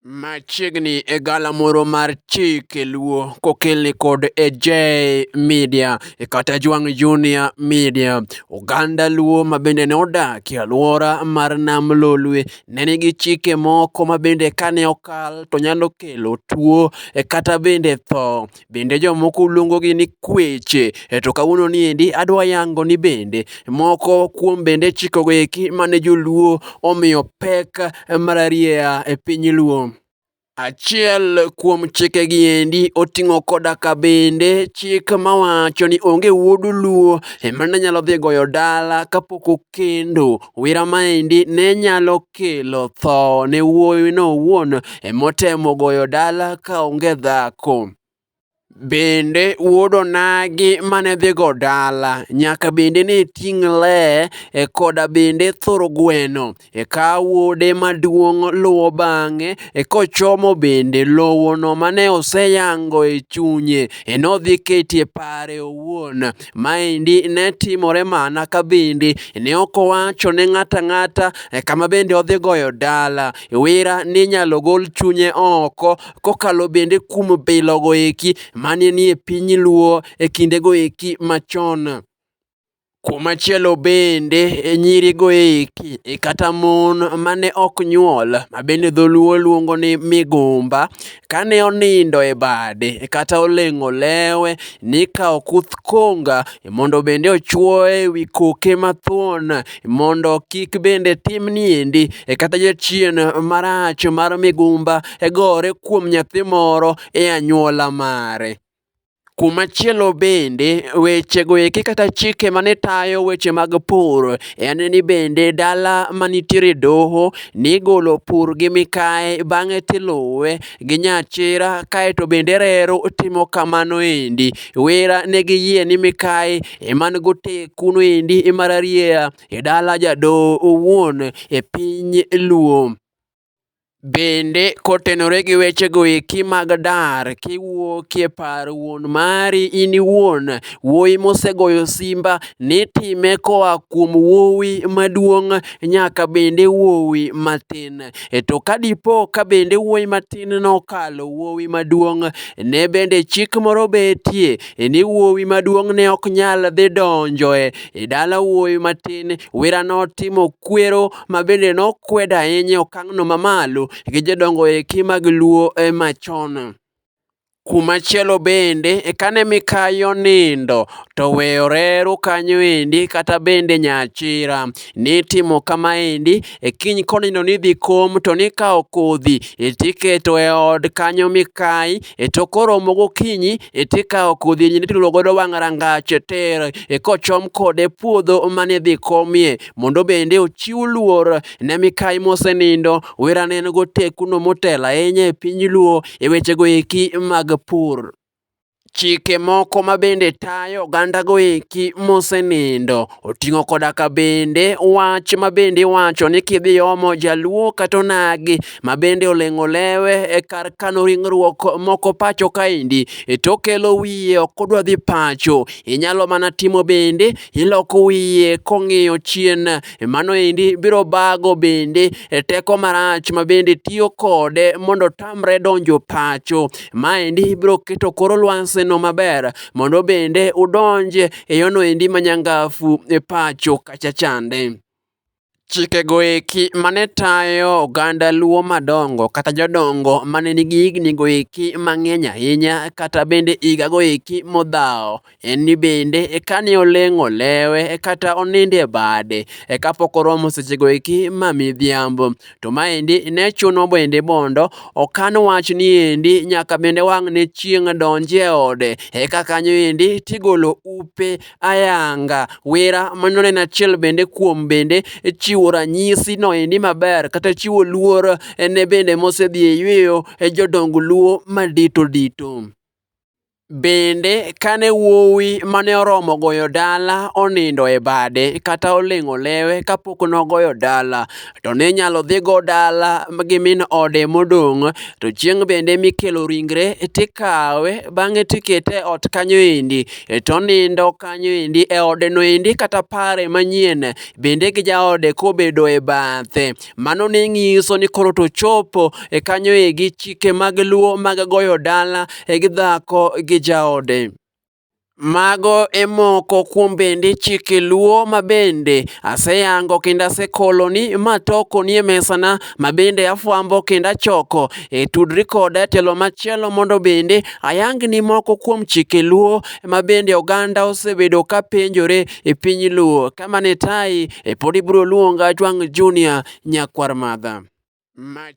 Machiegni e gala moro mar chike luo kokelni kod AJ Media e kata Jwang' Junior Media. Oganda luo ma bende ne odak e alwora mar Nam Lolwe ne nigi chike moko ma bende kane okal to nyalo kelo tuo e kata bende tho. bende jomoko luongogi ni kweche. E to kawuono ni endi adwa yango ni bende moko kuom bende chikogo eki mane joluo omiyo pek mararieya e piny luo. Achiel kuom chike gi endi oting'o koda ka bende chik mawacho ni onge wuod luo emane nyalo dhi goyo dala kapok okendo. Wira maendi ne nyalo kelo tho ne wuowino owuon motemo goyo dala ka onge dhako. Bende wuod onagi mane dhigo dala nyaka bende ne ting' le e koda bende thur gweno. Eka wuode maduong' luwo bang'e e kochomo bende lowono mane oseyango e chunye e nodhi ketie pare owuon. Maendi ne timore mana ka bende ne ok owacho ne ng'ata ng'ata eh, kama bende odhi goyo dala. Wira ninyalo gol chunye oko kokalo bende kuom bilogo eki mane nie piny Luo e kindego eki machon. Kumachielo bende e nyirigo eki e kata mon mane ok nyuol ma bende dholuo luongo ni migumba Kane onindo e bade kata oleng'o lewe, nikawo kuth konga mondo bende ochwoye e wi koke mathuon mondo kik bende timni endi e kata jachien marach mar migumba e gore kuom nyathi moro e anywola mare. Kumachielo bende wechego eki kata chike mane tayo weche mag pur en ni bende dala manitiere doho nigolo pur gi mikae bang'e tiluwe gi nyachira kaeto bende reru timo kamano endi. Wera ne giyie ni mikae eman gotekun endi mar arieya e dala jadoho owuon e piny Luo. Bende kotenore gi wechego eki mag dar kiwuokie par wuon mari in iwuon, wuoyi mosegoyo simba ni time koa kuom wuowi maduong' nyaka bende wuowi matin. E to ka dipo ka bende wuoyi matin nokalo wuowi maduong', ne bende chik moro betie ni wuowi maduong' ne ok nyal dhi donjoe e dala wuowi matin, werano timo kwero ma bende nokwedo ahinya e okang'no mamalo gi jodongo eki mag Luo e machon. Kumachielo bende e kane mikayo nindo to weyo reru kanyo endi kata bende nyachira nitimo kama endi e kiny konindo nidhi kom to nikawo kodhi tiketo e od kanyo mikayi e to koromo gokinyi e tikawo kodhi nituro godo wang' rangach e ter e kochom kode puodho manidhi komie mondo bende ochiw luor ne mikayi mosenindo. Wera ne en go tekuno motelo ahinya e piny Luo e wechego eki mag pur. Chike moko ma bende tayo oganda go eki mosenindo oting'o koda ka bende wach ma bende iwacho ni kidhi omo jaluo kata onagi ma bende oleng'o lewe e kar kano ringruok moko pacho kaendi e to kelo wiye ok odwa dhi pacho. Inyalo mana timo bende iloko wiye kong'iyo chien e mano endi biro bago bende e teko marach ma bende tiyo kode mondo tamre donjo pacho ma endi biro keto koro lwanse no maber mondo bende udonje e yono endi manyangafu e pacho kacha chande Chikego eki mane tayo oganda Luo madongo kata jodongo mane nigi higni go eki mang'eny ahinya kata bende higa go eki modhaw en ni bende kane oleng'o lewe kata oninde bade e kapok oromo seche go eki ma midhiambo. To maendi ne chuno bende mondo okan wach ni endi nyaka bende wang' ne chieng' donje ode eka kanyo endi tigolo upe ayanga. Wera mano en achiel bende kuom bende chiwo ranyisi no endi maber kata chiwo luor ne bende mosedhi e yweyo e jodong luo madito dito. Bende kane wuowi mane oromo goyo dala onindo e bade kata oling'o lewe kapok nogoyo dala, to ne nyalo dhigo dala gi min ode modong' to chieng' bende mikelo ringre tikawe bang'e tikete e ot kanyo endi e to nindo kanyo endi e odeno endi kata pare manyien bende gi jaode kobedo e bathe mano ne nyiso ni koro to chopo e kanyo egi chike mag luo mag goyo dala e gi dhako gi jaode Mago e moko kuom bende chike luo ma bende aseyango kendo asekoloni ma toko nie mesana ma bende afwambo kendo achoko. E tudri koda e telo machielo mondo bende ayangni moko kuom chike luo ma bende oganda osebedo ka penjore e piny luo. Kama ne tayi e pod ibiro luonga Jwang' Junior Nyakwar Madha. Mach.